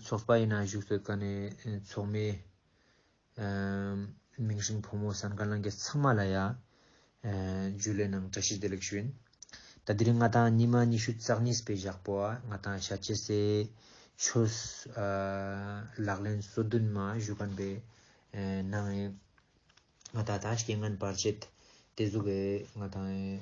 ཚོགས་པ་ཡིན་ན་བཞུགས་སུ་བཀའ་ནས་ཚོགས་མི། མིང་སྲིང་ཕོ་མོ་ཟང་ཀ་ལང་ཀ་ཚང་མ་ལ་ཡ། རྒྱུད་ལས་ནང་བཀྲ་ཤིས་བདེ་ལེགས་ཞུ། ད་དུས་རིང་ང་དང་ཉི་མ་ཉི་ཤུ་རྩག་གཉིས་པའི་བཞག་པོ་བ་ང་དང་ཤ་ཆེ་སེ། ཆོས། ལག་ལེན་སོ་བདུན་མ་བཞུགས་གན་པའི་ནང་ཡིན། ང་ད་ད་སྐྱེ་ངན་བར་ཆད་དེ་གཟུགས་འེ་ང་དང་འེ།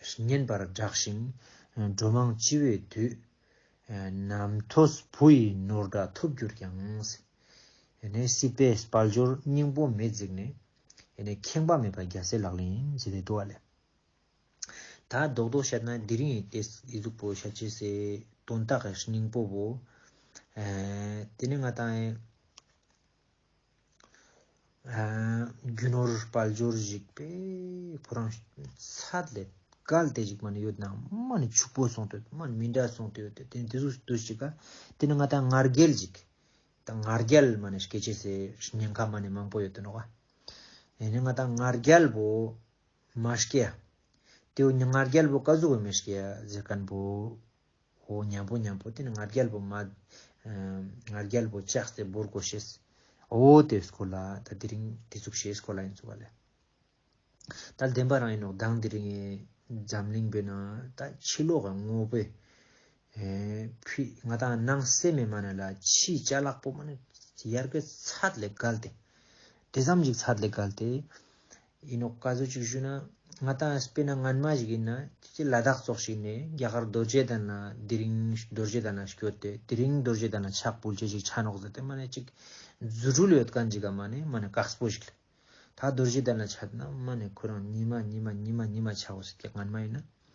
བསྙེན་པར་བསྒྲགས་ཤིང་འགྲོ་མང་སྤྱི་བོའི་དུས། ནམ་ཐོས་བུ་ཡི་ནོར་འདྲ་ཐོབ་གྱུར་ཀྱང། སྲིད་པའི་དཔལ་འབྱོར་སྙིང་པོ་མེས་བརྫིགས་ནས། ཁེངས་པ་མེད་པར་རྒྱལ་སྲས་ལག་ལེན་ཇི་ལྟའི་བསྡུ་བ་ལས། ད་རྡོག་རྡོག་བཤད་ན་དེ་རིང་ཡི་ཏས་ཡིད་གཟུགས་པོ་ཤ་ཆེ་སའི་དོན་དག་སྙིང་པོ་བོ། དེ་ནི་ང་དང། རྒྱུ་ནོར་དཔལ་འབྱོར་གཞིག་པས་ཕོ་རང་ཚད་ལས་བརྒལ་ཏེ་གཞིག་པ་ནི་ཡོད་ནའང་མ་ནི་ཕྱུག་པོ་སོང་དུས་མ་ནི་མི་འདྲ་སོང་དུས་ཡོད་དེ་དེ་འདི་ཟུག་འདི་གཞིག་ག་དེ་ནི་ང་ད་ངར་རྒྱལ་གཞིག་ད་ངར་རྒྱལ་མ་ནི་སྐད་ཆས་སའི་ཉེན་ཁ་མ་ནི་མང་པོ་ཡོད་དུ་འགྲོ་ག་ཡིན་ནི་ང་ད་ངར་རྒྱལ་པོ་མ་སྐྱེ་ཡ་དེ་བས་ངར་རྒྱལ་པོ་བཀའ་ཟུག་བས་མི་སྐྱེ་ཡ་ཟེར་ག་འདུག་ཧོ། མྱང་པོ་མྱང་པོ་དེ་ནི་ང་རྒྱལ་པོ་མ། ང་རྒྱལ་པོ་ལྕགས་རྩེ་འབུར་སྒོ་ཞེས། ཨོ་དེ་སྐོར་ལ་ད་དེ་རིང་དེ་ཚུགས་ཞེས་སྐོར་ལ་ཡིན་ཚུགས་པ་ལས། ད་བདེན་པ་རང་ཡིན་ནོ་གདངས་དེ་རིང་འཛམ་གླིང་པའི་ནང་ད་ཕྱི་ལོག་གི་དངོས་པོའི། ཕུད་ང་ད་སྣང་གསལ་མེད་མ་ནི་ལ་ཕྱིའི་བྱ་གླག་པོ་མ་ནི། ཡར་གའི་ཚད་ལས་བརྒལ་ཏེ། དེ་ཙམ་ཞིག་ཚད་ལས་བརྒལ་ཏེ། ཡིན་ནོག་བཀའ་ཟུར་གཅིག་ཞུས་ན། ང་ལྟ་ན་སྤེན་ན་ངན་མ་ཞིག་ཡིན་ན་ཁྱེད་ཀྱིས་ལ་དྭགས་སོགས་ཞིག་ནས་རྒྱ་གར་རྡོ་རྗེ་དང་ན་དེ་རིང་རྡོ་རྗེ་དང་ན་ཞིག་བསྐྱོད་དེ་དེ་རིང་རྡོ་རྗེ་དང་ན་ཕྱག་སྤུལ་བྱེད་ཅིག་ཆ་ནོག་ཟེར་ཏེ་མ་ནས་གཅིག་རྫུ་འཕྲུལ་ཡོད་ག་འཇིག་ག་མ་ནས་མ་ནས་གགས་སྤོ་ཞིག་ལ། ད་རྡོ་རྗེ་དང་ན་ཆ་དེ་ན་མ་ནས་ཁོ་རང་ཉི་མ་ཉི་མ་ཉི་མ་ཉི་མ་ཆགས་བ་ཟེར་གྱི་ངན་མ་ཡིན་ན།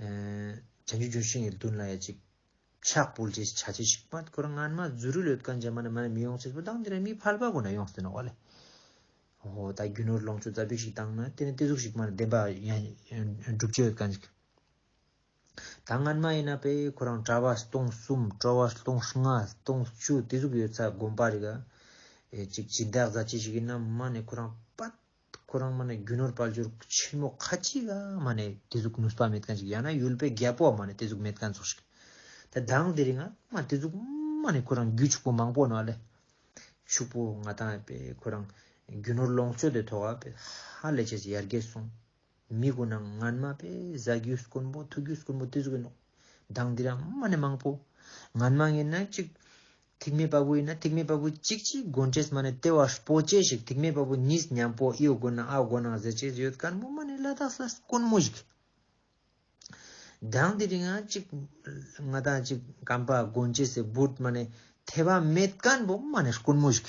བྱང་ཆུབ་ལྗོན་ཤིང་གི་མདུན་ལ་ཡ་གཅིག། ཕྱག་སྤོལ་བྱེད་བྱ་བྱེད་ཞིག་མ་འཁོར་རྔན་མ་རྫུ་རུ་ལོད་དཀར་འཇམ་མ་ནི་མ་ནི་མི་ཡོང་ཚེ་སྤུ་ལྡང་འདི་ནི་མི་ཕལ་པ་ཁོ་ན་ཡོང་སྟེ་ནོ་བ་ལས། ཧོ་ད་རྒྱུ་ནོར་ལོངས་སྤྱོད་རྩ་བརྒྱུད་ཞིག་བཏང་ན་དེ་ནི་སྟེ་གཟུགས་ཞིག་མ་ནི་བདེན་པ་སྒྲུབ་བྱེད་དཀར་འཇིག། ད་རྔན་མ་ཡིན་ན་པས་ཁོ་རང་གྲྭ་བ་སྟོང་གསུམ་སྤྲོ་བ་སྟོང་ལྔ་སྟོང་བཅུ་སྟེ་གཟུགས་ཡོད་ཚད་སྒོམ་པ་རིག་ཡ་གཅིག་སྦྱིན་བདག་གཟའ་བྱེད་ཞིག་ཡིན་ན་མ་ནི་ཁོ་རང་དཔའ། ཁོ་རང་མ་ནི་རྒྱུ་ནོར་དཔལ་འབྱོར་ཆེན་མོ་ཁ་ཅིག་ག་མ་ནི་དེ་ཟུག་ནུས་པ་མེད་གན་ཅིག་ཡང་ན་ཡུལ་པའི་རྒྱལ་པོ་ག་མ་ནི་དེ་ཟུག་མེད་གན་ཟུག་ཤིག་དེ་དང་དེ་རིང་ང་མ་དེ་ཟུག་མ་ནི་ཁོ་རང་རྒྱུ་ཕྱུག་པོ་མང་པོ་ནོ་ལེ་ཕྱུག་པོ་ང་དང་ཡ་པེ་ཁོ་རང་རྒྱུ་ནོར་ལོངས་སྤྱོད་དེ་ཐོག་ག་པེ་ཧ་ལས་ཆེ་ཆེ་ཡར་རྒྱས་སོང། མི་དགོས་ན་ང་མ་པས་བཟའ་རྒྱུ་དཀོན་པོ་འཐུ་རྒྱུ་དཀོན་པོ་དེ་ཟོ་གི་འདུག་སྡང་དེ་རང་མ་ནས་མང་པོ། ང་མ་ངེས་ན་གཅིག། ཐིག་མེད་པ་བུ་ཡིན་ན་ཐིག་མེད་པ་བུ་གཅིག་གཅིག་དགོན་ཁྲེས་མ་ནས་ལྟེ་བ་སྤོ་ཅེས་ཞིག་ཐིག་མེད་པ་བུ་གཉིས་མཉམ་པོ་གཡོ་དགོས་ན་ཨ་དགོ་ནང་ཟེར་ཅེས་ཡོད་དཀར་མོ་མ་ནས་བླ་དྭགས་ས་དཀོན་མོ་ཞིག། སྡང་དེ་རིང་ང་གཅིག། ང་དང་གཅིག་གམ་པ་དགོན་ཁྲེས་སེ་འབུད་མ་ནས་ཐེ་བ་མེད་དཀར་མོ་མ་ནས་དཀོན་མོ་ཞིག།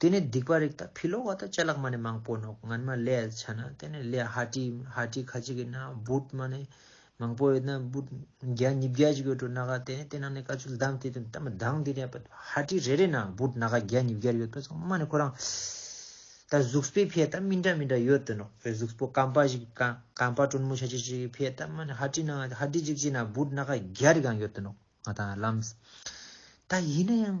དེ་ནས་སྡིག་པ་རིགས་དང་ཕི་ལོག་བ་དང་བཅས་ལག་མ་ནས་མང་པོ་ནོག་ངན་མ་ལས་ཆ་ན་དེ་ནས་ལས་ཧ་ཏྲི་ཧ་ཏྲི་ཁ་ཅིག་གི་ན་བུད་མ་ནས་མང་པོ་ཡོད་ན་བུད་བརྒྱ་ཉིས་བརྒྱ་ཅིག་ཡོད་འགྲོ་ན་ག་དེ་ནས་དེ་ནང་ནས་ཀ་ཆུ་ལྡང་དེ་དུ་ད་མི་ལྡང་དེ་ནས་ཧ་ཏྲི་རེ་རེ་ན་བུད་ན་ག་བརྒྱ་ཉིས་བརྒྱར་ཡོད་པ་ཚང་མ་ནས་ཁོ་རང་ད་གཟུགས་པོའི་ཕས་ད་མི་འདྲ་མི་འདྲ་ཡོད་དུ་ནོག་བོད་གཟུགས་པོ་གངས་པ་ཞིག་གངས་པ་དྲོན་མོ་ཆ་ཆེ་ཞིག་གི་ཕས་ད་མ་ནས་ཧ་ཏྲི་ན་ཧ་ཏྲི་ཅིག་ཅིག་ན་བུད་ན་ག་བརྒྱ་རེ་གང་ཡོད་དུ་ནོག་ང་ད་ལམ་ད་ཡིན་ན་ཡང།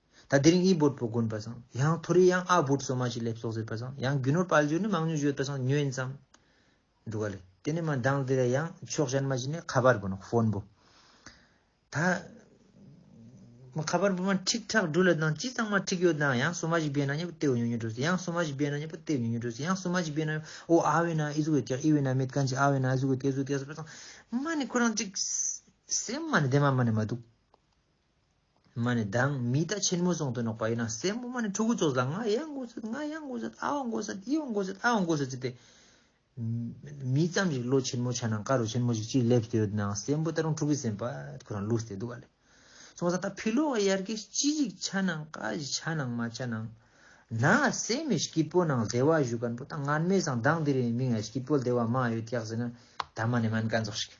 ད་དེ་རིང་དབྱི་བོད་བོད་དགོན་པ་བཟང་ཡང་མཐོ་རིས་ཡང་ཨ་བོད་སོ་མ་ཞིག་སླེབས་སོགས་ཟེར་པ་བཟང་ཡང་རྒྱུ་ནོར་དཔལ་འབྱོར་ནི་མང་ཉུང་བརྗོད་པ་བཟང་ཉོན་ཙམ་འདུག་ག་ལེ་དེ་ནས་མ་འདང་དེ་ལ་ཡང་ཕྱོགས་གཞན་མ་ཞིག་ནས་ཁ་པར་བུ་ནོ་ཧྥོན་བུ། ད། མ་ཁ་པར་བུ་མ་ཁྲིག་ཁྲག་སྦྲུལ་ལ་དང་ཅི་ཙང་མ་ཁྲིག་ཡོད་དང་ཡང་སོ་མ་ཞིག་བེད་ན་ཉེ་བོ་ལྟེ་བུ་ཉུང་ཉུང་འགྲོ་སྲིད་ཡང་སོ་མ་ཞིག་བེད་ན་ཉེ་བོ་ལྟེ་བུ་ཉུང་ཉུང་འགྲོ་སྲིད་ཡང་སོ་མ་ཞིག་བེད་ན་ཨོ་ཨ་བེད་ན་ཨི་ཟུག་བེད་ཀྱག་ཨི་བེད་ན་མེད་གང་ཅི་ཨ་བེད་ན་ཨི་ཟུག་བེད་གད་ཟུག་གད་ཟེར་པ་བཟང་མ་ནི་ཁོ་རང་ཅིག་སེམས་མ་ནི་བདེ་མ་མ་ནི་མ་འདུག། མ་ནི་བདག་མི་རྟ་ཆེན་མོ་ཟོང་དུ་ནོག་པ་ཡིན་ན་སྲས་མོ་མ་ནི་ཕྲུ་གུ་ཚོགས་ལ་ང་ཡ་མགོ་སེར་ང་ཡ་མགོ་སེར་ཨ་བ་མགོ་སེར་ཨི་བ་མགོ་སེར་ཨ་བ་མགོ་སེར་ཟེར་ཏེ། མི་ཙམ་ཞིག་བློ་ཆེན་མོ་ཆགས་ན་དཀར་རུ་ཆེན་མོ་ཞིག་ཅིག་སླེབས་ཏེ་ཡོད་ན་སྲས་མོ་ད་རུང་ཕྲུ་གུ་སེམས་པ་ཁོ་རང་བསླུས་ཏེ་འདུག་ག་ལེ། སོང་ཙང་ད་ཕི་ལོ་བ་ཡར་གས་ཅི་ཞིག་ཆ་ན་ཀ་ཞིག་ཆ་ན་མ་ཆ་ན། ན་སེ་མི་སྐྱིད་པོ་ནང་སྡེ་བ་བཞུགས་ག་འགྲོ་ད་ངར་མེད་ཟང་མདངས་འདི་རེད་མིང་ཡ་སྐྱིད་པོ་སྡེ་བ་མ་ཡོད་ཀྱག་ཟེར་ན་ད་མ་ནི་མན་ག་འཛོགས་ཤིག།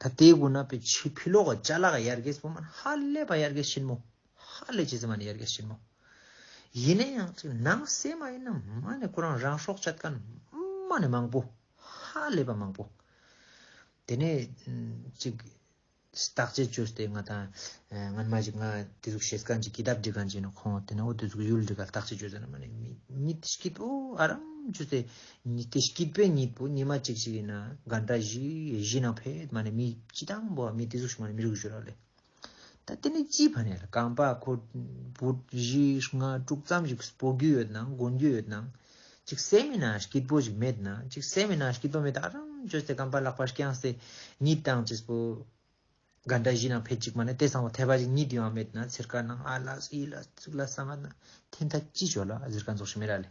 ད་དེའི་དགུ་ན་པེ་ཆི་བྷི་ལོ་ག་ཅཱ་ལ་ག་ཡར་གེ་སི་བོ་མ་ནི་ཧ་ལས་པ་ཡར་གེ་ཤིན་མོ། ཧ་ལས་ཅི་ཙི་མ་ནི་ཡར་གེ་ཤིན་མོ། ཡིན་ན་ཡང་ཅིག་ནང་གསེས་མ་ཡིན་ན་མ་ནི་ཁོ་རང་རང་སྲོག་ཆད་ཀན་མ་ནི་མང་པོ། ཧ་ལས་པ་མང་པོ། དེ་ནས་ཅིག་བརྟག་དཔྱད་བྱོས་ཏེ་ང་དང་ང་ནི་མ་ཅིག་ང་དེ་ཟུག་བྱེད་ཀན་ཅིག་གི་དབ་འདྲི་ཀན་ཅིག་ནི་ཁོང་དེ་ནི་འོ་དེ་ཟུག་ཡུལ་འདྲི་ཀ་བརྟག་དཔྱད་བྱོས་ཏེ་ནི་མ་ནི་མི་མི་དེ་ཤི་ཏུ་ཨ་རམ་བྱོས་ཏེ་ཉི་ཏིས་སྐྱིད་པའི་ཉིད་པོ་ཉི་མ་གཅིག་ཅིག་ཡིན་ན་དགའ་འདྲ་བཞི་བཞི་ན་ཕས་མ་ནས་མི་སྤྱི་དང་པོ་བ་མི་ཏི་གཟུགས་ཤིག་མ་ནས་མི་རུ་གུ་ཞུ་རག་ལས། ད་དེ་ནས་སྤྱི་བ་ནས་ལ་གང་པ་ཁོ་བུ་བཞི་ལྔ་དྲུག་ཙམ་ཞིག་སྤོ་རྒྱུ་ཡོད་ན་དགོན་རྒྱུ་ཡོད་ན་ཅིག་བསད་མི་ན་སྐྱིད་པོ་ཞིག་མེད་ན་ཅིག་བསད་མི་ན་སྐྱིད་པོ་མེད་ད་རང་ཅོ་སེ་གང་པ་ལག་པ་རྐྱང་སེ་ཉིད་དང་ཅིག་སྤོ་དགའ་འདྲ་བཞི་ན་ཕས་ཅིག་མ་ནས་དེ་སང་བ་ཐལ་བ་ཞིག་ཉིད་ཡོང་མེད་ན་ཚེར་ཁ་ནང་ཨ་ལ་ཨི་ལ་ཙིག་ལ་སང་ང་ན་ཐེན་ཐ་ཅི་ཞོ་ལ་གཟིར་ཁ་འཛོགས་ཤིག་མེད་རག་ལས།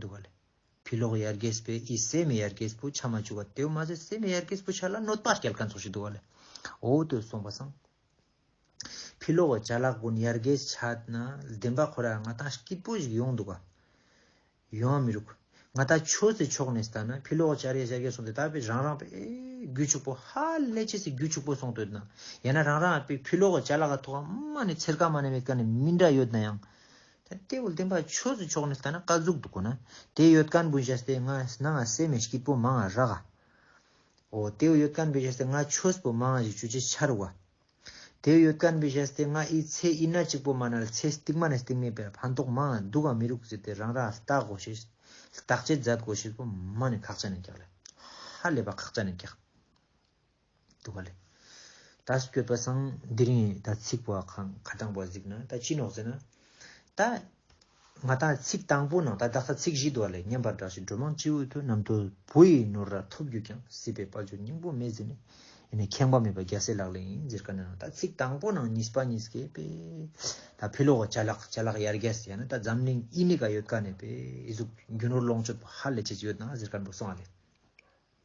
འདུག་བ་ལས། བུ་ལོག་ཡར་རྒྱས་པས་ཨི་སེ་མེ་ཡར་རྒྱས་པོ་ཆ་མ་བཅུ་བ་དེའུ་མ་ཟད་སེ་མེ་ཡར་རྒྱས་པོ་ཆ་ལ་གནོད་པ་སྐྱེལ་ག་ཚོགས་ཤིག་འདུག་བ་ལས། འོ་དོད་གསུངས་པ་སང། བུ་ལོག་བ་བྱ་ལག་བུན་ཡར་རྒྱས་ཆ་ན་བདེན་པ་ཁོ་ར་ང་ཐང་སྐྱིད་པོ་ཞིག་ཡོང་འདུག་བ། ཡོང་མི་རུག། ང་ད་ཆོས་སི་ཕྱོགས་ནས་བལྟ་ན་བུ་ལོག་བྱ་རྒྱས་བྱ་རྒྱས་སོང་དེ་དག་པས་རང་རང་པས་རྒྱུ་ཕྱུག་པོ་ཧ་ལས་ཆེ་སི་རྒྱུ་ཕྱུག་པོ་སོང་དོད་ན་ཡང་ན་རང་རང་པས་བུ་ལོག་བ་བྱ་ལག་ག་ཐོག་མ་ནས་ཚེར་ཀ་མ་ནས་མེད་ཀ་ནས་མི་འདྲ་ཡོད་ན་ཡང། ད་ལྟའི་བོད་བསྟན་པ་ཆོས་སུ་ཕྱོགས་ནས་ལྟ་ན་དཀའ་རྫོགས་འདུག་གོ་ན། དེའི་ཡོད་དཀའ་འབུལ་བྱས་ཏེ་ང་ན་ང་སེ་མེ་ཤཀི་པོ་མང་རག་ག། ཨོ། དེའི་ཡོད་དཀའ་འབུལ་བྱས་ཏེ་ང་ཆོས་པོ་མང་ཞིག་བྱུ་ཅི་ཆར་བ། དེའི་ཡོད་དཀའ་འབུལ་བྱས་ཏེ་ང་ཨི་ཚེ་ཨི་ན་ཅིག་པོ་མ་ན་ལ་ཚེ་སྟིག་མ་ནས་སྟིག་མེད་པའི་ཕན་ཐོགས་མང་འདུག་ག་མི་རུག་ཟེར་ཏེ་རང་རང་ལྟ་གོ་ཞེས་བརྟག་དཔྱད་མཛད་དགོས་ཞེས་པོ་མང་ནས་ཁག་ཅ་ནས་བཀྱགས་ལ། ཧ་ལས་པ་ཁག་ཅ་ནས་བཀྱགས། དུ་བ་ལས། ད་སྐྱོད་པ་སང་འདིར་ཡིན་ད་ཚིག་པ་གང་ག་དྲང་པོ་གཟིགས་ན་ད་ཅི་ནོག་ཟེར་ན། ད་ང་ད་ཚིག་དང་པོ་ནང་ད་བདག་ད་ཚིག་བཞི་དུ་བ་ལས་སྙན་པར་བསྒྲགས་ཤིག་སྒྲོལ་མ་སྤྱི་བོའི་དུ་ནམ་དུ་བུ་ཡི་ནོར་ར་ཐོབ་གྱུར་ཀྱང་སྲིད་པའི་དཔའ་ཆུ་སྙིང་པོ་མེད་ཟེར་ནས་ཡིན་ནས་ཁེངས་པ་མེད་པ་རྒྱལ་སྲས་ལག་ལེན་ཡིན་ཟེར་ག་ནང་ད་ཚིག་དང་པོ་ནང་གཉིས་པ་གཉིས་ཀའི་པའི། ད་ཕི་ལོག་བྱ་ལག་བྱ་ལག་ཡར་རྒྱས་ཡང་ན་ད་འཛམ་གླིང་དབྱིན་ནི་ག་ཡོད་ག་ནས་པའི་གཟུགས་རྒྱུ་ནོར་ལོངས་སྤྱོད་པ་ཧ་ལས་ཆེ་ཆེ་ཡོད་ན་ཟེར་ག་འགྲོ་སོང་ཨ་ལས།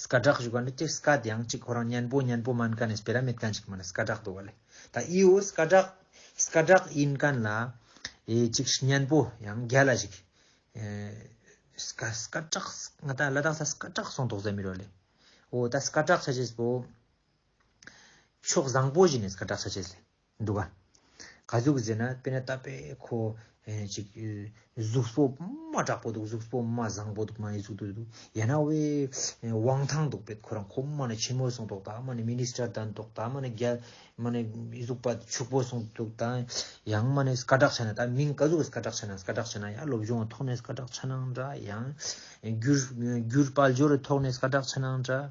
སྐ་བསྒྲགས་ཞུ་ག་འདི་ཀྱི་སྐ་དེའང་གཅིག་ཁོ་རང་སྙན་པོ་སྙན་པོ་སྨན་ག་ནས་སྤེལ་ར་མེད་ག་འཇིག་མ་ནས་སྐ་བསྒྲགས་འདུག་བ་ལས་ད་ཨི་འོ་སྐ་བསྒྲགས་སྐ་བསྒྲགས་ཡིན་ག་ན་ལ་ཨེ་གཅིག་སྙན་པོ་ཡང་རྒྱ་ལ་ཞིག་སྐ་སྐ་བསྒྲགས་ང་ད་ལ་དྭགས་ས་སྐ་བསྒྲགས་སོང་དོགས་ཟ་མི་རོ་ལས་འོ་ད་སྐ་བསྒྲགས་ཆ་བྱེད་པོ་ཕྱོགས་བཟང་པོ་བཞིན་ནས་སྐ་བསྒྲགས་ཆ་བྱེད་ལས། འདུག་ག། ག་གཟུགས་ཟེར་ན་དཔེར་ན་རྟ་པའི་ཁོ། ཅིག། གཟུགས་སྤོ་མ་དྲག་པོ་འདུག་གཟུགས་སྤོ་མ་བཟང་པོ་འདུག་མ་ཡི་གཟུགས་འདུག། ཡང་ན་དབའི། དབང་ཐང་འདུག་པའི་ཁོ་རང་ཁོ་མ་ནི་ཆེན་མོ་སོང་འདུག་ད་མ་ནི Minister དང་འདུག་ད་མ་ནི་རྒྱ། མ་ནི་གཟུགས་པ་ཕྱུག་པོ་སོང་འདུག་ད། ཡང་མ་ནི་སྐ་དྲག་བྱ་ན་ད་མིང་ག་གཟུགས་སྐ་དྲག་བྱ་ན་སྐ་དྲག་བྱ་ན་ཡང་སློབ་སྦྱོང་ཐོག་ནས་སྐ་དྲག་བྱ་ན་འདྲ་ཡང། བསྒྱུར། བསྒྱུར་དཔལ་འབྱོར་ཐོག་ནས་སྐ་དྲག་བྱ་ན་འདྲ།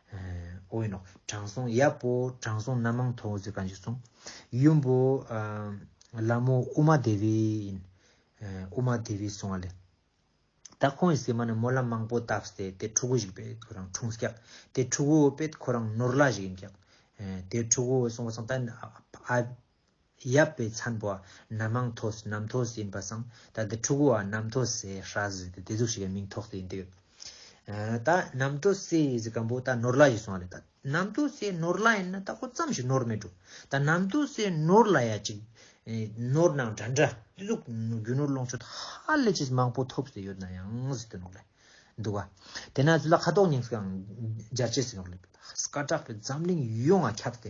ཨོ་ཡིན་ནོ། དྲང་སྲོང་ཡབ་བོ་དྲང་སྲོང་རྣམ་མང་ཐོག་ཟེར་ག་འཇིགས་གསུང། ཡུམ་བོ། ལ་མོ་ཨུ་མ་དེ་བི་ཡིན། ཨུ་མ་དེ་བི་གསུང་བ་ལས། ད་ཁོང་གི་སྲས་མ་ནི་མོ་ལ་མང་པོ་བཏགས་སྟེ་དེ་ཕྲུ་གུ་ཞིག་པས་ཁོ་རང་འཁྲུངས་སྐྱག། དེ་ཕྲུ་གུ་བོ་པས་ཁོ་རང་ནོར་བླ་ཞིག་ཡིན་སྐྱག། དེ་ཕྲུ་གུ་བོ་གསུང་བ་སང་ད་ཨ། ཡབ་པའི་ཚན་པོ་ནམ་མང་ཐོ་སི་ནམ་ཐོ་སི་ཡིན་པ་སང་ད་དེ་ཕྲུ་གུ་བ་ནམ་ཐོ་སི་ཧྲ་ཟི་དེ་དེ་ཟུག་ཤིག་གི་མིང་ཐོག་ཏུ་ཡིན་དུས། ད་ནམ་ཐོ་སི་ཟི་གམ་པོ་ད་ནོར་ལ་ཞིག་སོང་བ་རེད་ད་ནམ་ཐོ་སི་ནོར་ལ་ཡིན་ན་ད་ཁོ་ཙམ་ཞིག་ནོར་མེད་འགྲོ་ད་ནམ་ཐོ་སི་ནོར་ལ་ཡ་ཅིག་ནོར་ནང་འདྲ་འདྲ་དེ་ཟུག་རྒྱུ་ནོར་ལོངས་སྤྱོད་ཧ་ལས་ཅིག་མང་པོ་ཐོབ་སི་ཡོད་ན་ཡང་སི་དེ་ནོར་ལ་འདུག་བ་དེ་ན་ཚུ་ལ་ཁ་དོག་ཉིང་སི་གང་སྦྱར་བྱེད་སི་ནོར་ལ་སྐ་དྲག་པའི་འཛམ་གླིང་ཡོ་ང་ཁྱབ་སྟེ་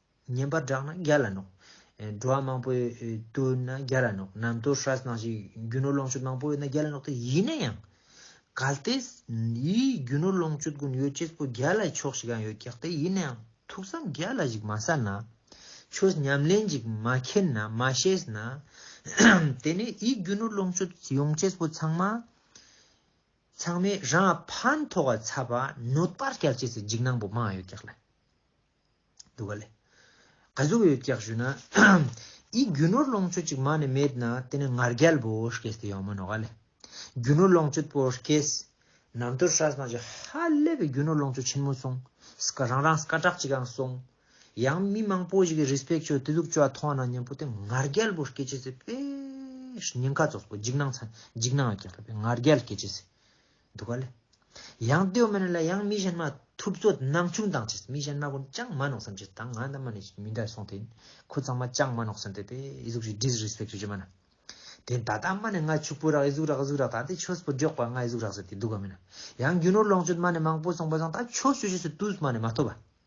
ཉན་པར་བསྒྲགས་ན་རྒྱ་ལ་ནོག། འགྲོ་བ་མང་པོས་བསྟོད་ན་རྒྱ་ལ་ནོག་ནམ་དུར་ཧྲཱི་གནང་ཞིག་རྒྱུ་ནོར་ལོངས་སྤྱོད་མང་པོ་ཡོད་ན་རྒྱ་ལ་ནོག་སྟེ་ཡིན་ན་ཡང། གལ་ཏེ། ཡིས་རྒྱུ་ནོར་ལོངས་སྤྱོད་ཀུན་ཡོད་སྤྱད་པོ་རྒྱ་ལ་ཆོག་ཤིག་ཡང་ཡོད་ཀྱག་སྟེ་ཡིན་ན་ཡང་ཐུགས་བསམ་རྒྱ་ལ་ཞིག་མ་ཟ་ན། ཆོས་ཉམས་ལེན་ཅིག་མ་མཁྱེན་ན་མ་ཤེས་ན། དེ་ནས་ཡིས་རྒྱུ་ནོར་ལོངས་སྤྱོད་ཡོང་སྤྱད་པོ་ཚང་མ། ཚང་མས་རང་ཕན་ཐོགས་ཚ་བ་ནོད་པར་སྐྱལ་སྤྱད་སའི་འཇིགས་སྣང་པོ་མང་ཡོད་ཀྱག་ལ། འདུག་ག་ལས། ག་གཟུགས་ཡོད་ཀྱག་ཞུ་ན། ཡིག་རྒྱུ་ནོར་ལོངས་སྤྱོད་ཅིག་མ་ནི་མེད་ན་དེ་ནི་ངར་རྒྱལ་པོ་ཤཀེས་དེ་ཡོང་མིན་ནོ་ག་ལས། རྒྱུ་ནོར་ལོངས་སྤྱོད་པོ་ཤཀེས། ནམ་ཏོར་ཧྲ་སྣང་ཅིག་ཧ་ལས་པའི་རྒྱུ་ནོར་ལོངས་སྤྱོད་ཆེན་མོ་སོང། སི་ཀ་རང་རང་སི་ཀ་གྲགས་ཅིག་ཨང་སོང། ཡང་མི་མང་པོ་ཞིག་གིས་རིས་པེག་ཆོས་དེ་གཟུགས་ཅུ་བ་མཐོང་ན་ཉན་པོ་དེ་ངར་རྒྱལ་པོ་ཤཀེས་ཅེས་ཟེར་པས། ཉེན་ཁ་ཚོགས་པོ་འཇིགས་སྣང་འཇིགས་སྣང་ཡོད་ཀྱག་ལས་པས་ངར་རྒྱལ་ཤཀེས་ཅེས་ཟེར། འདུག་ག་ལ། ཡང་ཏོའི་མ་ནི་ལ་ཡང་མི་གཞན་མ་ཐུབ་ཚོ་ནང་ཆུང་དང་བཅས་མི་གཞན་མ་ཀུན་ཅང་མ་ནོག་བསམ་བྱེད་དང་ང་འདའ་མ་ནི་མི་འདའི་སོང་དེ་ཁོ་ཚང་མ་ཅང་མ་ནོག་བསམ་དེ་པའི་ཨི་གཟུགས་ཞིག Disrespect བྱེད་རྒྱུ་མ་ན། དེ་ད་དང་མ་ནི་ང་ཕྱུག་པོ་རག་ཨི་གཟུགས་རག་ཨི་གཟུགས་རག་ད་དེ་ཆོས་པོ་འཇོག་པ་ང་ཨི་གཟུགས་རག་ཟེར་དེ་འདུག་ག་མིན་ན། ཡང་རྒྱུ་ནོར་ལོངས་སྤྱོད་མ་ནི་མང་པོ་སོང་པ་ཟང་ད་ཆོས་ཞུ་བྱེད་སུ་ཏུས་མ་ནི་མ་ཐོབ་པ།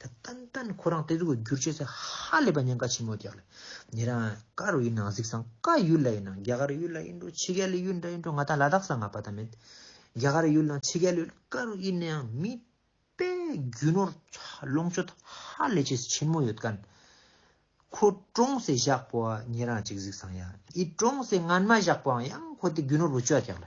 ད་ཏན་ཏན་ཁོ་རང་བསྟན་འཛུགས་ཀྱི་བསྒྱུར་བྱས་ཚད་ཧ་ལས་པ་ཉེན་ཁ་ཆེན་མོ་རྒྱག་ལ། ཉེ་རང་ཀར་བའི་ནང་གཟིགས་སང་ཀ་ཡུལ་ལ་ཡིན་ན་རྒྱ་གར་ཡུལ་ལ་ཡིན་འགྲོ་ཕྱི་རྒྱལ་ལ་ཡུལ་འདྲ་ཡིན་འགྲོ་ང་ད་ལ་དྭགས་སང་ང་བ་ད་མེད། རྒྱ་གར་ཡུལ་དང་ཕྱི་རྒྱལ་ཡུལ་ཀར་བའི་ཡིན་ནའང་མི་དཔེ་རྒྱུ་ནོར་ལོངས་སྤྱོད་ཧ་ལས་ཆེ་ཆེན་མོ་ཡོད་ཀན། ཁོ་ཀྲོང་སེ་བཞག་པོ་བ་ཉེ་རང་གཅིག་གཟིགས་སང་ཡ་ཨི་ཀྲོང་སེ་ངན་མ་བཞག་པོའང་ཡང་ཁོ་དེ་རྒྱུ་ནོར་བུ་བཅོ་བརྒྱག་ལ།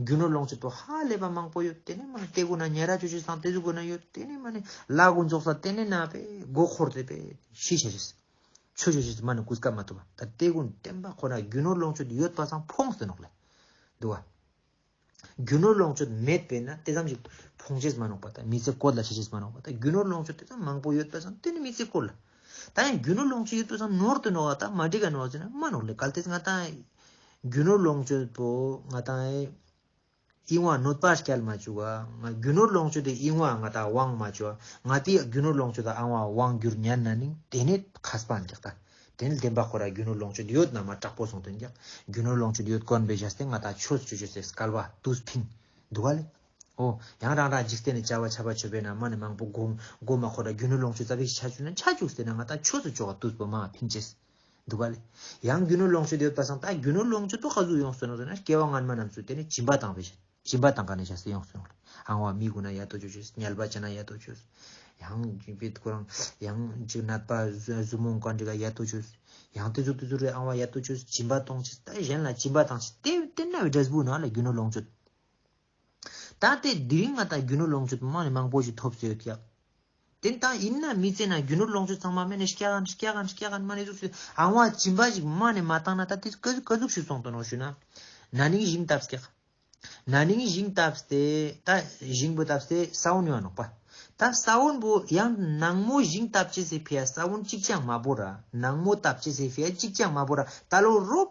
རྒྱུ་ནོར་ལོངས་སྤྱོད་དུ་ཧ་ལས་པ་མང་པོ་ཡོད་དེ་ནས་མ་ནི་སྟེ་གོ་ན་ཉལ་ར་ཆོས་ཆོས་སང་སྟེ་གཟུགས་གོ་ན་ཡོད་དེ་ནས་མ་ནི་བླ་གོ་འཇོག་ས་དེ་ནས་ན་པས་མགོ་འཁོར་དེ་པས་ཤི་ཤ་རེས་ཆོས་ཆོས་ཆོས་མ་ནི་གུས་སྐབས་མ་ཐུབ་པ་ད་སྟེ་གོ་བསྟན་པ་ཁོ་ན་རྒྱུ་ནོར་ལོངས་སྤྱོད་དུ་ཡོད་པ་སང་ཕོངས་སེ་ནོག་ལེ་འདུག་བ་རྒྱུ་ནོར་ལོངས་སྤྱོད་མེད་པས་ན་དེ་ཙམ་ཞིག་ཕོངས་ཆེས་མ་ནོག་པ་ད་མི་ཚེ་བཀོལ་ལ་ཆེ་ཆེས་མ་ནོག་པ་ད་རྒྱུ་ནོར་ལོངས་སྤྱོད་དེ་ཙམ་མང་པོ་ཡོད་པ་སང་དེ་ནི་མི་ཚེ་བཀོལ་ལ། ད་ཡང་རྒྱུ་ནོར་ལོངས་སྤྱོད་ཡོད་པས་སམ་ནོར་དུ་ནོར་བ་དང་མ་འབྲེལ་ག་ནོར་བ་ཟེར་ན་མ་ནོར་ལས་གལ་ཏེ་ང་དང་རྒྱུ་ནོར་ལོངས་སྤྱོད་པོ་ང་དང་དབྱིངས་དབང་ནོད་པར་སྐྱལ་མ་བཅུག་བ་ང་རྒྱུ་ནོར་ལོངས་སྤྱོད་དེ་དབྱིངས་དབང་ང་དང་དབང་མ་བཅུག་བ་ང་དེའི་རྒྱུ་ནོར་ལོངས་སྤྱོད་དང་ཨང་དབང་དབང་རྒྱུར་ཉར་ན་ནིང་དེ་ནི་ཁ་སྤང་རྒྱག་ད་དེ་ནི་བདེན་པ་ཁོ་ར་རྒྱུ་ནོར་ལོངས་སྤྱོད་དེ་ཡོད་ན་མ་དྲག་པོ་གསུང་དོན་རྒྱག་རྒྱུ་ནོར་ལོངས་སྤྱོད་དེ་ཡོད་དཀོན་པའི་བཞག་སྟེ་ང་དང་ཆོས་སུ་སྤྱོད་ཆོས་སེ་སྐལ་བ་དུས་ཕིང་འདུག་བ་ལས། ཨོ། ཡང་རང་རང་འཇིག་རྟེན་ལས་བྱ་བ་བྱ་བར་བྱོས་པས་ན་མ་ནི་མང་པོ་བསྒོམ། སྒོ་མ་ཁོ་ན་རྒྱུ་ནོར་ལོངས་སྤྱོད་རྩ་བའི་ཤ་ཆུ་ན་ཆ་བྱུགས་ཟེར་ན་ང་ད་ཆོས་སུ་འཇོག་དུས་བུ་མ་ཕིན་ཅེས། འདུག་ག་ལས། ཡང་རྒྱུ་ནོར་ལོངས་སྤྱོད་དེ་བས་བཟང་ད་རྒྱུ་ནོར་ལོངས་སྤྱོད་དུ་ག་ཟུག་ཡོང་སོན་ཟེར་ན་སྐྱེ་བ་སྔ་མ་རྣམས་སུ་དེ་ནི་བྱིན་པ་དང་བས་བྱིན་པ་དང་ག་ནས་བྱ་སེ་ཡོང་སོན་ལ། ཨང་བ་མི་དགོས་ན་ཡ་ཏོ་ཆོས་ཆོས་ཉལ་པ་བྱས་ན་ཡ་ཏོ་ཆོས། ཡང་ཅིག་པས་དགོས་རང་ཡང་ཅིག་ནད་པ་གཟུགས་མོ་འགའ་འདྲི་ག་ཡ་ཏོ་ཆོས། ཡང་དེ་ཟུག་དེ་ཟུག་རེད་ཨང་བ་ཡ་ཏོ་ཆོས་བྱིན་པ་གཏོང་ཅེས་ད་གཞན་ལ་བྱིན་པ་དང་ཅེས་དེ་བས་བསྟེན་ན་བས་དགྲ་བུ་ན་ལས་རྒྱུ་ནོར་ལོངས་སྤྱོད། ད་ལྟའི་དུས་ང་ལྟར་རྒྱུ་ནོར་ལོངས་སྤྱོད་པའི་དམངས་ནི་མང་པོ་ཞིག་ཐོབ་ཟོས་ཀྱི། དེ་ལྟ་ཡིན་ན་མི་ཚེ་ནང་རྒྱུ་ནོར་ལོངས་སྤྱོད་ཚང་མ་དམན་ནས་སྐྱ་གནས་སྐྱ་གནས་སྐྱ་གནས་དམན་ནས་གཟུགས་སུ་ཨང་བ་བྱིན་པ་ཞིག་དམངས་ནས་མ་བཏང་ན་ད་ལྟའི་སྐད་གཟུགས་ཤིག་སོང་དོན་ནོ་ཞུས་ན། ན་ནིང་བཞིན་བཏབ་སྟེ། ན་ནིང་བཞིན་བཏབ་སྟེ་ད་བཞིན་པོ་བཏབ་སྟེ་ས་བོན་ཡང་ནོག་པ། ད་ས་བོན་པོ་ཡང་ནངས་མོ་བཞིན་བཏབ་ཅི་ཟེར་ཕེ་ཡ་ས་བོན་གཅིག་ཀྱང་མ་བོར་ར་ནངས་མོ་བཏབ་ཅི་ཟེར་ཕེ་ཡ་གཅིག་ཀྱང་མ་བོར་ར་ད་ལོ་རོབ།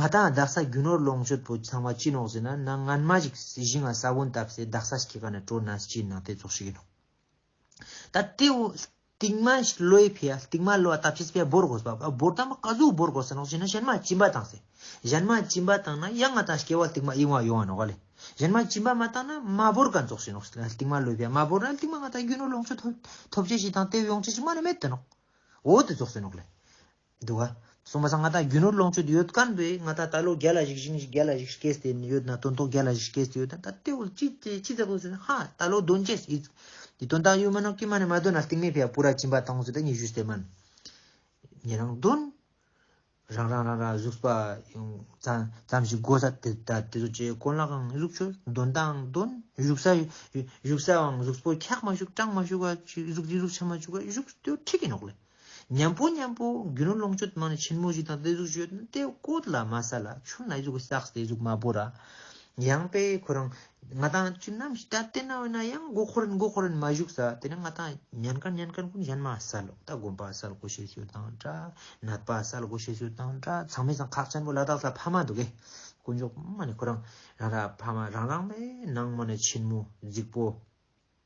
ང་དང་རྡག་ས་རྒྱུ་ནོར་ལོངས་སྤྱོད་པོ་ཚང་མ་ཅི་ནོག་ཟེར་ན་ནང་ངན་མ་ཞིག་གཞི་ང་ས་བོན་བཏབ་སའི་རྡག་ས་ཞིག་གི་ཁ་ནས་དྲོ་ན་ཅི་ནག་དེ་རྫོགས་ཤིག་ཡིན་ནོག། ད་དེ་བོ་ལྟིག་མ་ལོའི་ཕི་ཡ་ལྟིག་མ་ལོ་བཏབ་ཕྱིས་པའི་བོར་དགོས་སྤ་བ་བོར་ད་མ་ཀ་ཟུག་བོར་དགོས་ཟེར་ནོག་ཅི་ན་གཞན་མ་ཅི་འབའ་བཏང་སའི་གཞན་མ་ཅི་འབའ་བཏང་ན་ཡང་ང་དང་སྐྱེ་བ་ལྟིག་མ་ཡིན་བ་ཡོང་བ་ནོག་ལེ་གཞན་མ་ཅི་འབའ་མ་བཏང་ན་མ་བོར་ག་རྫོགས་ཤིག་ནོག་ལྟིག་མ་ལོའི་ཕི་ཡ་མ་བོར་ན་ལྟིག་མ་ང་དང་རྒྱུ་ནོར་ལོངས་སྤྱོད་ཐོབ་ཐོབ་བྱེད་ཞིག་དང་དེ་བས་ཡོང་བྱེད་ཞིག་མ་ནི་མེད་དེ་ནོག་འོ་དེ་རྫོགས་ཟེར་ནོག་ལེ། འདུག་ག། གསུམ་པ་ས་མངའ་ཐང་རྒྱུ་ནོར་ལོངས་སྤྱོད་དུ་ཡོད་དཀའ་ནི་པའི་མངའ་ཐང་ད་ལོ་བརྒྱ་ལ་གཞིག་ཞིང་བརྒྱ་ལ་གཞིག་སྐེས་དེ་ཡོད་ན་དོན་ཐོག་བརྒྱ་ལ་གཞིག་སྐེས་དེ་ཡོད་ན་ད་ལྟའི་བར་ཅི་ཅི་ཅི་ཟེར་དགོས་ཟེར་ན་ཧ་ད་ལོ་དོན་ཅེས་ཡིད་ཀྱི་དོན་དག་ཡོད་མིན་ནོ་ཀྱེ་མ་ནི་མ་འདོད་ན་གཏིང་མེད་ཕས་པུ་ར་བྱིན་པ་དང་ཟེར་ད་ཉི་ཤུ་སྟེ་མན་ཉི་རང་དོན་རང་རང་རང་རང་གཟུགས་པ་ཡང་ཙམ་ཙམ་ཞིག་དགོས་ས་དེ་ད་དེ་ཚོ་ཅེས་ཀོ་ལ་གང་གཟུགས་ཆོས་དོན་དང་དོན་བཞུགས་ས་བཞུགས་སའང་གཟུགས་པོ་འཁྱག་མ་བཞུགས་སྐྲངས་མ་བཞུགས་བ་གཟུགས་འདི་གཟུགས་ཆ་མ་བཞུགས་བ་བཞུགས་ཏེ་ཁྲིག་གི་ནོག་ལེ། མཉམ་པོ་མཉམ་པོ་རྒྱུ་ནོར་ལོངས་སྤྱོད་དམངས་ནས་ཆེན་མོ་བཞི་དང་སྟེ་གཟུགས་སྤྱོད་དེ་བཀོད་ལ་མ་ས་ལ་ཆུ་ནག་གཟུགས་བསགས་སྟེ་གཟུགས་མ་བོར་ར། ཡང་པས་ཁོ་རང་ང་དང་ཁྱོད་ནམ་ཞིག་ད་ལྟའི་ནང་བས་ན་ཡང་མགོ་འཁོར་རན་མགོ་འཁོར་རན་མ་བཞུགས་ས་དེ་ནས་ང་དང་ཉན་དཀར་ཉན་དཀར་མགོན་གཞན་མ་ས་ལོག་ལྟ་དགོན་པ་ས་ལོག་གོ་ཤེས་ཚུལ་དང་འདྲ་ནད་པ་ས་ལོག་གོ་ཤེས་ཚུལ་དང་འདྲ་ཚང་མས་ཚང་ཁག་ཆེན་པོ་ལ་དྭགས་ས་ཕ་མ་འདུག་གས་དཀོན་མཆོག་དམངས་ནས་ཁོ་རང་རང་ར་ཕ་མ་རང་རང་བས་ནང་དམངས་ནས་ཆེན་མོ་རྫིག་པོ།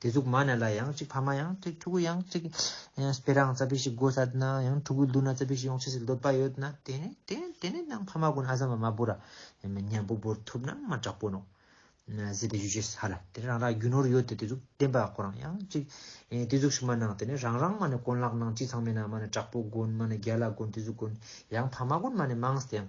དེ་གཟུགས་མ་ན་ལ་ཡང་གཅིག་ཕ་མ་ཡང་གཅིག་ཕྲུ་གུ་ཡང་གཅིག། སྤེ་རང་རྩ་བི་ཞིག་དགོས་ས་ན་ཡང་ཕྲུ་གུ་བསྡུ་ན་རྩ་བི་ཞིག་ཡོང་ཆེ་སི་འདོད་པ་ཡོད་ན་དེ་ནི་དེ་དེ་ནི་ནང་ཕ་མ་ཀུན་ཨ་ཟམ་བ་མ་བུ་ར་མཉམ་པོ་བོར་ཐུབ་ན་མ་དྲག་པོ་ནོ། ཟེར་བའི་ཡུལ་ཆེ་ས་ལ་དེ་རང་རང་རྒྱུ་ནོར་ཡོད་དེ་དེ་གཟུགས་བདེན་པ་ཁོ་རང་ཡང་གཅིག། དེ་གཟུགས་ཞིག་མ་ནང་དེ་ནི་རང་རང་མ་ནི་ཀོན་ལག་ནང་གཅིག་ཚང་མེད་ན་མ་ནི་དྲག་པོ་དགོན་མ་ནི་རྒྱ་ལ་དགོན་དེ་གཟུགས་ཀུན་ཡང་ཕ་མ་ཀུན་མ་ནི་མང་ས་ཡང་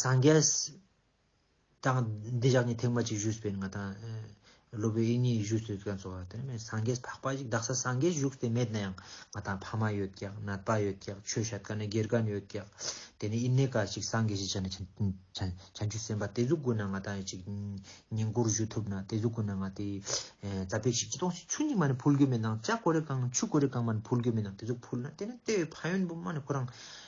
སངས་རྒྱས་དང་འདི་ཅག་ནི་ཐེག་མ་གཅིག་བཞུགས་པའི་ང་དང་སློབ་བུ་ཨིན་ཉིད་བཞུགས་སོད་ཀན་སོགས་བ་དེ་ནི་སངས་རྒྱས་འཕགས་པ་གཅིག་བདག་ས་སངས་རྒྱས་བཞུགས་ཏེ་མེད་ན་ཡང་ང་དང་ཕ་མ་ཡོད་ཀྱང་ནད་པ་ཡོད་ཀྱང་ཆོས་བཤད་དཀའ་ན་དགེ་རྒན་ཡོད་ཀྱང་དེ་ནི་ཨིན་ནེ་ཀ་གཅིག་སངས་རྒྱས་ཞེས་བྱ་ན་བྱང་ཆུབ་སེམས་དཔའ་དེ་གཟུགས་དགོས་ན་ང་དང་གཅིག་ཉིང་ཁུར་བཞུགས་ཐུབ་ན་དེ་གཟུགས་དགོས་ན་ང་དེ་རྩ་བེ་ཞིག་ཅི་སྟོང་ཞིག་ཆུ་གཉིས་མ་ནི་ཕུལ་དགོས་མེད་ན་ལྕགས་གོ་རེ་གང་ཆུ་གོ་རེ་གང་མ་ནི་ཕུལ་དགོས་མེད་ན་དེ་གཟུགས་ཕུལ་ན་དེ་ནི་ལྟེ་བའི་ཕ་ཡོན་པོ་མ་ནི་ཁོ་རང་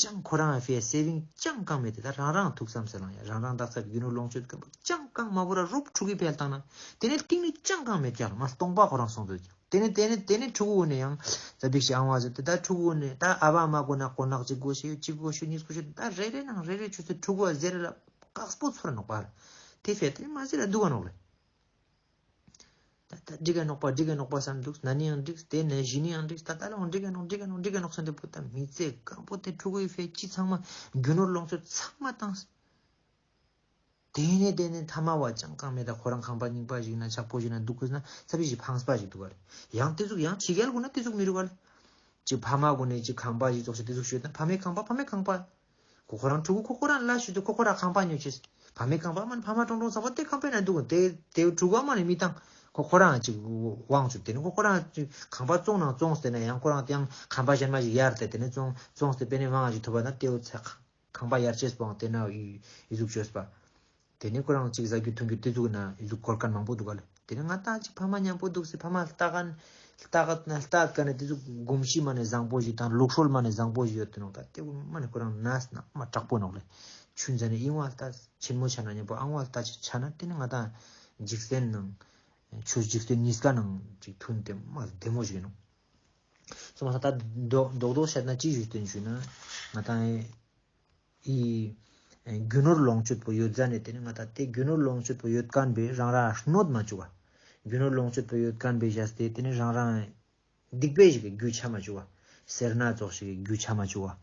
ཅང་ཁོ་རང་བྷེ་སེ་བིང་ཅང་བཀང་མེད་དེ་ད་རང་རང་ཐུགས་བསམ་སེ་ལང་ཡ་རང་རང་བདག་ཚབ་ཡུ་ནོ་ལོངས་སྤྱོད་སྐམ་པོ་ཅང་བཀང་མ་བོ་ར་རོབ་ཕྲུ་གུའི་བལ་བཏང་ན་དེ་ནས་ཀིང་ནི་ཅང་བཀང་མེད་ཀྱང་མ་སྟོང་པ་ཁོ་རང་སོང་ཚོད་ཀྱང་དེ་ནས་དེ་ནས་དེ་ནས་ཕྲུ་གུ་བོ་ནས་ཡང་ཛ་བིག་ཤི་ཨང་བ་ཟེར་དེ་ད་ཕྲུ་གུ་བོ་ནས་ད་ཨ་བ་མ་དགོ་ན་དགོ་ནག་ཅིག་དགོ་ཞེས་ཡོད་ཅིག་དགོ་ཞོ་གཉིས་དགོ་ཞོ་ད་རེ་རེ་ནང་རེ་རེ་ཆུ་ཚོད་ཕྲུ་གུ་བ་ཟེར་རེ་ལ་བཀག་སྤོ་ཚོར་ནོག་པ་ར་དེ་བལ་ཏེ་མ་ཟེར་ར་སྡུག་ག་ནོག་རེ། ད་ལྟ་འདྲི་ག་ནོག་པ་འདྲི་ག་ནོག་པ་བསམ་འདུག་ན་ནི་ཡང་འདྲི་དེ་ནས་གཞི་ནི་ཡང་འདྲི་ད་ལྟ་ལའང་འདྲི་ག་ནོག་འདྲི་ག་ནོག་འདྲི་ག་ནོག་བསམ་དེ་པོ་ད་མི་ཚེ་སྐམ་པོ་དེ་ཕྲུ་གུའི་ཕའི་ཁྱི་ཚང་མ་རྒྱུ་ནོར་ལོངས་སྤྱོད་ཚང་མ་བཏང་དེ་ནས་དེ་ནས་ཐ་མ་བ་ཅང་གང་མེད་ད་ཁོ་རང་ཁང་པ་རྙིང་པ་ཞིག་ན་ཇག་པོ་ཞིག་ན་འདུག་གོ་ན་ཚ་བི་ཞིག་ཕངས་པ་ཞིག་འདུག་ག་རེ་ཡང་དེ་ཚུགས་ཡང་ཕྱི་རྒྱལ་དགོ་ན་དེ་ཚུགས་མི་རུ་ག་ལ་ཅིག་ཕ་མ་དགོ་ནས་ཅིག་ཁང་པ་ཞིག་ཚོགས་ཞིག་དེ་ཚུགས་ཞོད་ན་ཕ་མའི་ཁང་པ་ཕ་མའི་ཁང་པ་ཁོ་ཁོ་རང་ཕྲུ་གུ་ཁོ་ཁོ་རང་ལ་ཞུས་དུས་ཁོ་ཁོ་རང་ཁང་པ་ཉོས་ཆེས་བག་མེད་ཁང་པ་མ་ནི་ཕ་མ་ཀྲོང་ཀྲོང་ཟ་བ་དེ་ཁང་པའི་ནང་འདུག་གོ་དེ་དེ་ཕྲུ་གུ་མ་ནི་མི་དང་ཁོ་ཁོ་རང་གཅིག་དབང་བྱུང་དེ་ནི་ཁོ་ཁོ་རང་ཁང་པ་བཙོང་ནང་བཙོང་ཟེར་ན་ཡང་ཁོ་རང་དེ་ཡང་ཁང་པ་གཞན་མ་ཞིག་གཡར་ཏེ་དེ་ནི་བཙོང་བཙོང་ཟེར་པས་ནི་དབང་ཞིག་ཐོབ་པ་ན་དེའུ་ཚ་ཁང་པ་གཡར་ཆེས་བང་དེ་ན་ཡིག་གཟུགས་བྱོས་པ། དེ་ནས་ཁོ་རང་གཅིག་བཟའ་རྒྱུ་འཐུང་རྒྱུ་ལྟོས་ཚུགས་ན་ཡུལ་དུ་གོར་སྐར་མང་པོ་འདུག་ག་དེ་ནས་ང་ལྟ་ཅིག་ཕ་མ་མཉམ་པོ་འདུག་ཟེར་ཕ་མ་ལྟ་ག་ལྟ་ག་ན་ལྟ་ག་ནས་དེ་ཚོ་གོམས་གཤིས་མ་ནས་བཟང་པོ་ཞིག་དང་ལུགས་སྲོལ་མ་ནས་བཟང་པོ་ཞིག་ཡོད་དུ་ནོག་ད་དེ་དབུ་མ་ནས་ཁོ་རང་ན་ཟ་ན་དབུ་མ་དྲག་པོ་ནོག་ལེ། ཆུ་འཛའ་ནས་གཡིང་བ་ལྟ་ཆེན་མོ་ཆ་ན་མཉམ་པོ་ཨང་བ་ལྟ་ཅིག་ཆ་ན་དེ་ནས་ང་ད་འཇིག་རྟེན་ནང་ཆུ་འཇིག་རྟེན་ཉིས་ཀ་ནང་ཅིག་འཐུང་དེ་དབུ་མ་བདེ་མོ་ཞིག་ཡིན་ནོག་སོ་མ་ས་ད་རྡོག་རྡོག་བཤད་ན་ཅིག་ཞུས་དོན་ཞུས་ན་ང་ད། ཡི། རྒྱུ་ནོར་ལོངས་སྤྱོད་པོ་ཡོད་རྫ་ནས་དེ་ནི་ང་ད་ལྟའི་རྒྱུ་ནོར་ལོངས་སྤྱོད་པོ་ཡོད་ཀན་པའི་རང་རང་ཧྲནོད་མ་བཅུ་བ། རྒྱུ་ནོར་ལོངས་སྤྱོད་པོ་ཡོད་ཀན་པའི་བཞའ་སྟེ་དེ་ནི་རང་རང། སྡིག་པའི་བཞི་གའི་རྒྱུ་ཆ་མ་བཅུ་བ། སེར་སྣ་རྫོགས་བཞི་གའི་རྒྱུ་ཆ་མ་བཅུ་བ།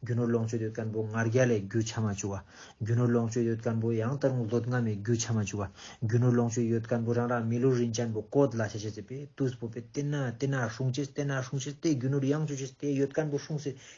རྒྱུ་ནོར་ལོངས་སྤྱོད་ཡོད་ཀན་པོ་ངར་རྒྱ་ལའི་རྒྱུ་ཆ་མ་བཅུ་བ། རྒྱུ་ནོར་ལོངས་སྤྱོད་ཡོད་ཀན་པོ་ཡང་དག་རུང་བཟློད་སྔ་མའི་རྒྱུ་ཆ་མ་བཅུ་བ། རྒྱུ་ནོར་ལོངས་སྤྱོད་ཡོད་ཀན་པོ་རང་རང་མི་ལོ་རིན་ཅན་པོ་ཀོད་ལ་ཤ་ཤེ་ཟེ་པས་ཏུས་པོ་པས་ཏེ་ན་ཏེ་ན་ཧྲུང་ཅེས་ཏེ་ན་ཧྲུང་ཤེས་ཏེ་རྒྱུ་ནོར་ཡང་བཅུ་ཤེས་ཏེ་ཡོད་ཀན་པོ་ཧྲུང་སེ་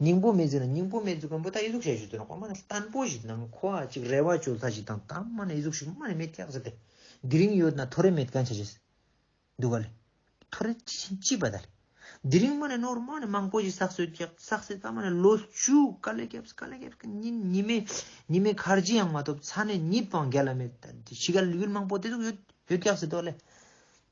སྙིང་པོ་མེད་ཟེར་ན་སྙིང་པོ་མེད་འཛུགས་མཁན་པོ་ད་ཡིད་གཟུགས་ཞལ་ཞུ་དེ་ནང་ཁོ་མ་ནས་བརྟན་པོ་ཞིག་ནང་ཁོ་ཨ་ཅིག་རེ་བ་བཅོལ་ཚ་ཞིག་དང་ད་མ་ནས་ཡིད་གཟུགས་ཞིག་མ་ནས་མེད་སྐྱག་ཟེར་ཏེ། འདི་རིང་ཡོད་ན་ཐོ་རེ་མེད་གན་ཆ་བྱེད། འདུག་ག་ལེ། ཐོ་རེ་ཅི་བྱེད་ཅི་བ་ད་ལེ། འདི་རིང་མ་ནས་ནོར་མ་ནས་མང་པོ་ཞིག་བསགས་སོད་སྐྱག་བསགས་སེ་ད་མ་ནས་ལོ་བཅུ་ག་ལེ་སྐྱབས་ག་ལེ་སྐྱབས་ཀྱི་ཉིན་ཉི་མའི་ཉི་མའི་ཁར་ཅི་ཡང་མ་ཐོབ་ཚ་ནས་ཉིད་དཔང་རྒྱ་ལ་མེད་ད་འདི་ཕྱི་ག་ལེ་ཡུལ་མང་པོ་དེ་ཚོ་ཡོད་ཡོད་སྐྱག་ཟེར་དོ་ག་ལེ།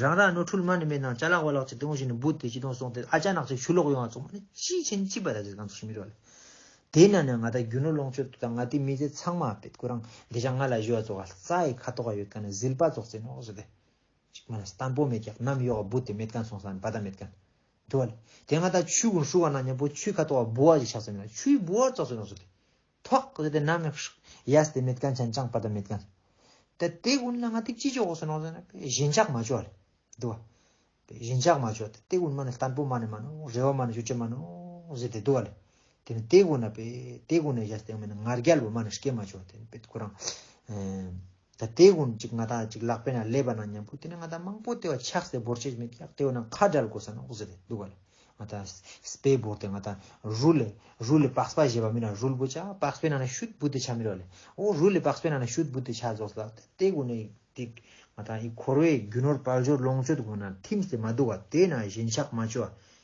རང་རང་ནོར་འཁྲུལ་མ་ནི་མེད་སྣང་ལྕགས་ལག་བ་ལག་ཅིག་སྟོང་བཞིན་ནི་འབུད་དེ་ཅི་དོན་སོང་སྟེ་ཨ་ཅག་ནག་ཅིག་ཆུ་ལོག་ཡོང་བ་ཚོགས་མ་ནི་ཅི་བྱེད་ནི་ཅི་བ་ར་ཅིག་ཚང་དུ་ཞུ་མི་རོ། དེ་ན་ནི་ང་དང་རྒྱུ་ནོར་ལོངས་སྤྱོད་དུ་དང་ང་དེ་མི་ཚེ་ཚང་མ་པད་སྐུ་རང་འདི་ཅག་ང་ལ་གཞོལ་བ་ཚོགས་ཨ་ཙ་ཡི་ཁ་དོག་ག་ཡོད་ག་ནི་ཟིལ་པ་ཙོག་ཙེ་ནོག་ཟོ་དེ་ཅིག་མ་ནི་སྟམ་པོ་མེད་ཀྱང་ནམ་གཡོག་ག་འབུད་དེ་མེད་ག་ཚོང་ས་ནི་བ་ད་མེད་ག་ནི་དུ་བ་ལ། དེ་ང་དང་ཆུའི་གུང་ཧྲུལ་བ་ན་མྱང་པོ་ཆུའི་ཁ་དོག་ག་འབུ་བ་ཅིག་ཆགས་ཚོད་མེད་ན་ཆུའི་འབུ་བ་ཙོག་ཙེ་ནོག་ཟོ་དེ་ཐོག་ལ་དེ་ནམ་ཡང་ཧྲུག་ཡས་དེ་མེད་གན་ཆན་ཅང་པ་དེ་མེད་གན། དེ་དེ་ཀུན་ལ་ང་དེ་ཅི་ཅོག་སོ་ནོ་ཟེར་ན་བཞིན་ཆགས་མ་ཅོག་ལེ། འདུ་བ། བཞིན་ཆགས་མ་ཅོག་དེ་དེ་ཀུན་མ་ནི་ལྟན་པོ་མ་ནི་མ་ནོ་རེ་བ་མ་ནི་ཞུ་ཆེ་མ་ནོ་ཟེར་དེ་འདུ་བ་ལེ། དེ་ནི་དེ་ཀུན་ན་པེ་དེ་ཀུན་ནས་ཡས་དེ་ཡང་མེད་ན་ངར་རྒྱལ་བོ་མ་ནི་སྐྱེ་མ་ཅོག་དེ་ནི་པེ་དེ་ཁོ་རང། ད་ལྟའི་དགོན་གཅིག་ང་ཐག་གཅིག་ལག་པས་ན་ལས་པ་ན་ཉམས་པོ་དེ་ནི་ང་ད་མང་པོ་ལྟེ་བ་ཆགས་སའི་འབོར་ཆེ་མེད་ཀྱང་ལྟེ་བ་ན་ཁ་འདྲལ་དགོས་ས་ན་འོག་ཟེར་ཏེ་འདུག་ག་ལ་ང་ད་སྤའི་འབོར་དེ་ང་ད་རུ་ལས་རུ་ལས་པགས་པ་བཞེས་པ་མིན་ན་རུལ་བུ་ཆགས་པགས་པའི་ནང་ན་ཤུད་བུ་དེ་ཆགས་མི་རོ་ལས་འོ་རུ་ལས་པགས་པའི་ནང་ན་ཤུད་བུ་དེ་ཆགས་རྫོགས་ལགས་ད་ལྟའི་དགོན་གནས་དེ་ང་ད་ཡི་འཁོར་བའི་རྒྱུ་ནོར་དཔལ་འབྱོར་ལོངས་སྤྱོད་དགོས་ན་ཐིམ་སྟེ་མ་འདུག་ག་དེ་ན་བཞིན་ཆགས་མ་བཅོས་པ་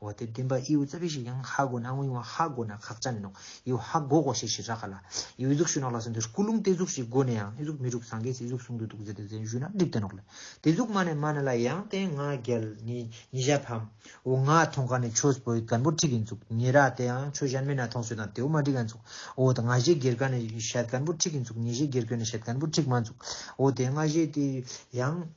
བ་སྟེ་བདེན་པ་ཨིའུ་རྩ་བའི་ཞིག་ཡང་ཧ་གོ་ན་ཨང་ཡིའུ་ཧ་གོ་ན་ཁག་ཅན་ནོ་ཨིའུ་ཧ་གོ་གོ་ཞེས་ཞེས་རག་ག་ལ། ཨིའུ་གཟུགས་ཞུ་ནག་ལ་སོན་དེར་སྐུ་རླུང་སྟེ་གཟུགས་ཞིག་གོ་ནས་ཡང་ཨི་གཟུགས་མི་འགྲུབ་སངས་རྒྱས་སུ་ཨི་གཟུགས་གསུང་དུ་འདུག་ཟེར་ཏེ་ཟན་ཞུས་ན་འགྲིབ་སྟེ་ནོག་ལེ། དེ་གཟུགས་མ་ནས་མ་ན་ལ་ཡང་སྟེ་ང་རྒྱལ་ནི་ཉི་ཞག་ཕམ། ཨོ་ང་ཐོང་ག་ནས་ཆོས་བོད་དཀར་པོ་ཁྲིག་གིན་འཚུགས་ཉི་རག་དེ་ཡང་ཆོས་གཞན་མེད་ན་ཐོང་སོད་དང་དེའུ་མ་བསྒྲིག་ག་འཚུགས་ཨོ་ད་ང་བཞེས་སྒེར་ག་ནས་ཞལ་དཀར་པོ་ཁྲིག་གིན་འཚུགས་ཉི་བཞེས་སྒེར་གོས་ནས་ཞལ་དཀར་པོ་ཁྲིག་མ་འཚུགས་ཨོ་དེ་ང་བཞེས་དེ་ཡང།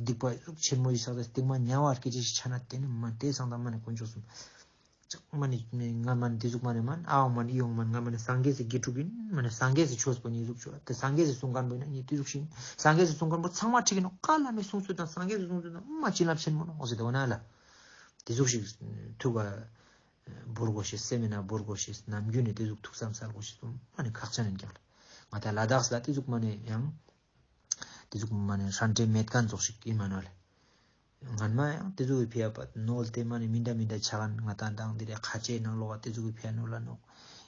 སྡིག་པ་ལུགས་ཆེན་མོ་ཡི་ས་ལ་སྟེང་མ་ཉལ་བར་སྐད་ཅིག་ཅིག་ཆ་ན་དེ་ནི་མ་དེ་སང་དང་མ་ནི་དཀོན་མཆོག་གསུམ། ཅག་མ་ནི་ང་མ་ནི་དེ་གཟུགས་མ་ནི་མ་ནི་ཨའོང་མ་ནི་ཨིའོང་མ་ནི་ང་མ་ནི་སངས་རྒྱས་སུ་དགེ་ཕྲུག་གིན་མ་ནི་སངས་རྒྱས་སུ་ཆོས་པོ་ནི་གཟུགས་ཆོས་དེ་སངས་རྒྱས་སུ་གསུང་དཀར་པོ་ཡིན་ན་ནི་དེ་གཟུགས་ཤིང་སངས་རྒྱས་སུ་གསུང་དཀར་པོ་ཚང་མ་ཁྲིད་ཀྱི་ནོ་ཀ་བླ་མའི་གསུང་ཚུལ་དང་སངས་རྒྱས་སུ་གསུང་ཚུལ་དང་མ་བྱིན་རླབས་ཆེན་མོ་ནོ་ཟེར་དེ་འོ་ན་ལ་དེ་གཟུགས་ཤིག་ཐུགས་ཀ་འབུར་གོ་ཞེས་སེམས་མེད་ན་འབུར་གོ་ཞེས་ནམ་རྒྱུན་ནས་དེ་གཟུགས་ཐུགས་བསམ་སར་གོ་ཞེས་གསུང་མ་ནི་ཁག་ཆ་ནས་འགྱངས་ལ་ང་ད་ལ་དྭགས་ལ་དེ་གཟུགས་མ་ནི་ཡང་དེ་ཚོ་མ་ནི་ཧྲན་ཏེ་མེད་ག་རྫོགས་ཤིག་གིས་མ་ནོ་ལེ། ངར་མ་ཡང་དེ་ཚོ་གི་ཕེ་ཡ་པ་ནོ་ལ་དེ་མ་ནི་མི་འདྲ་མི་འདྲ་ཆ་ག་ནང་ད་དང་དེ་ལས་ཁ་ཆེའི་ནང་ལོག་ག་དེ་ཚོ་གི་ཕེ་ཡ་ནོ་ལ་ནོ།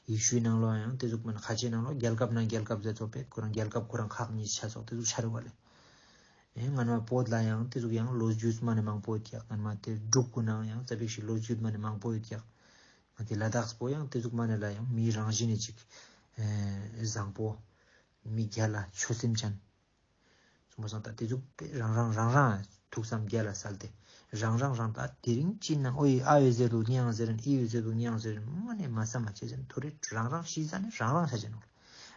ཡི་ཤུའི་ནང་ལོག་ཡང་དེ་ཚོ་མ་ནི་ཁ་ཆེའི་ནང་ལོག་རྒྱལ་ཁབ་ནང་རྒྱལ་ཁབ་ཛ་ཚོགས་པས་ཁོ་རང་རྒྱལ་ཁབ་ཁོ་རང་ཁག་གཉིས་ཆ་ཚོགས་དེ་ཚོ་ཆ་རེ་བ་ལེ། ཨེ་ངར་མ་བོད་ལ་ཡང་དེ་ཚོ་གི་ཡང་ལོ་རྒྱུས་མ་ནི་མང་པོ་ཡོད་ཀྱི་ངར་མ་དེ་འབྲུག་གི་ནང་ཡང་ཙ་བེག་ཤིག་ལོ་རྒྱུས་མ་ནི་མང་པོ་ཡོད་ཀྱི། ང་དེ་ལ་དྭགས་སྤོ་ཡང་དེ་ཚོ་མ་ནི་ལ་ཡང་མིའི་རང་བཞིན་ནི་ཅིག། ཨེ། བཟང་པོ། མི་བརྒྱ་ལ་ཆོས་སེམས་ཅན། གསུམ་པ་སངས་ད་ཏེ་གཟུགས་དེ་རང་རང་རང་རང་ཐུགས་སམ་བརྒྱད་ལ་སལ་ཏེ་རང་རང་རང་ད་དེ་རིང་ཅིན་ན་ཨོ་ཡིས་ཨ་ཡོད་ཟེར་དུག་ཉེའང་ཟེར་ཨི་ཡོད་ཟེར་དུག་ཉེའང་ཟེར་མ་ནས་མ་ས་མ་བྱེད་ཟེར་ཐུ་རེ་རང་རང་ཤི་ས་ནས་རང་རང་ཤ་བྱེད་ནོ་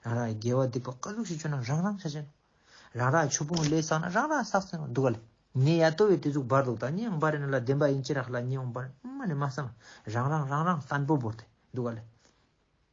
རང་རང་ཡི་རྒྱལ་བ་སྡིག་པ་དཀའ་གཟུགས་ཤིག་བྱོན་ན་རང་རང་ཤ་བྱེད་ནོ་རང་རང་ཡི་ཆུ་ཕུང་ལས་བསགས་ན་རང་རང་བསགས་ཟེར་ནོ་འདུག་ག་ལ་ཉེ་ཡ་ཏོ་བའི་དེ་གཟུགས་འབར་དུག་ད་ཉེའང་འབར་ཡིན་ལ་བདེན་པ་ཡིན་ཅི་ར་ལ་ཉེའང་འབར་མ་ནས་མ་ས་མ་རང་རང་རང་རང་སྟན་པོ་བོར་ཏེ་འདུག་ག་ལ།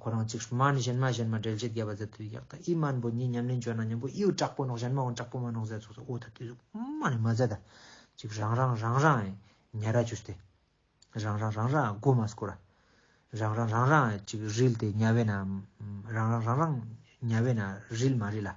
ཁོ་རང་ཅིག་སྨྲ་ནི་གཞན་སྨྲ་གཞན་སྨྲ་འགྲེལ་བྱེད་རྒྱས་པ་ཟད་དུ་གཡག་དང་ཨི་སྨྲ་འབོ་གཉིས་མཉམ་ལེན་བྱོས་ན་མཉམ་པོ་ཨིའོ་དྲག་པོ་ནོག་གཞན་སྨྲའོ་དྲག་པོ་མ་ནོག་ཟད་སོགས་སུ་ཨོ་ཐ་དུས་སུ་སྨྲ་ནི་མ་ཟད་ད་ཅིག་རང་རང་རང་རང་ཨེ་ཉལ་ར་གྱུར་ཏེ། རང་རང་རང་རང་ཨ་སྒོ་མ་སྐོར་ར། རང་རང་རང་རང་ཨེ་ཅིག་རིལ་ཏེ་ཉལ་བས་ན་རང་རང་རང་རང་ཉལ་བས་ན་རིལ་མ་རིལ་ཨ།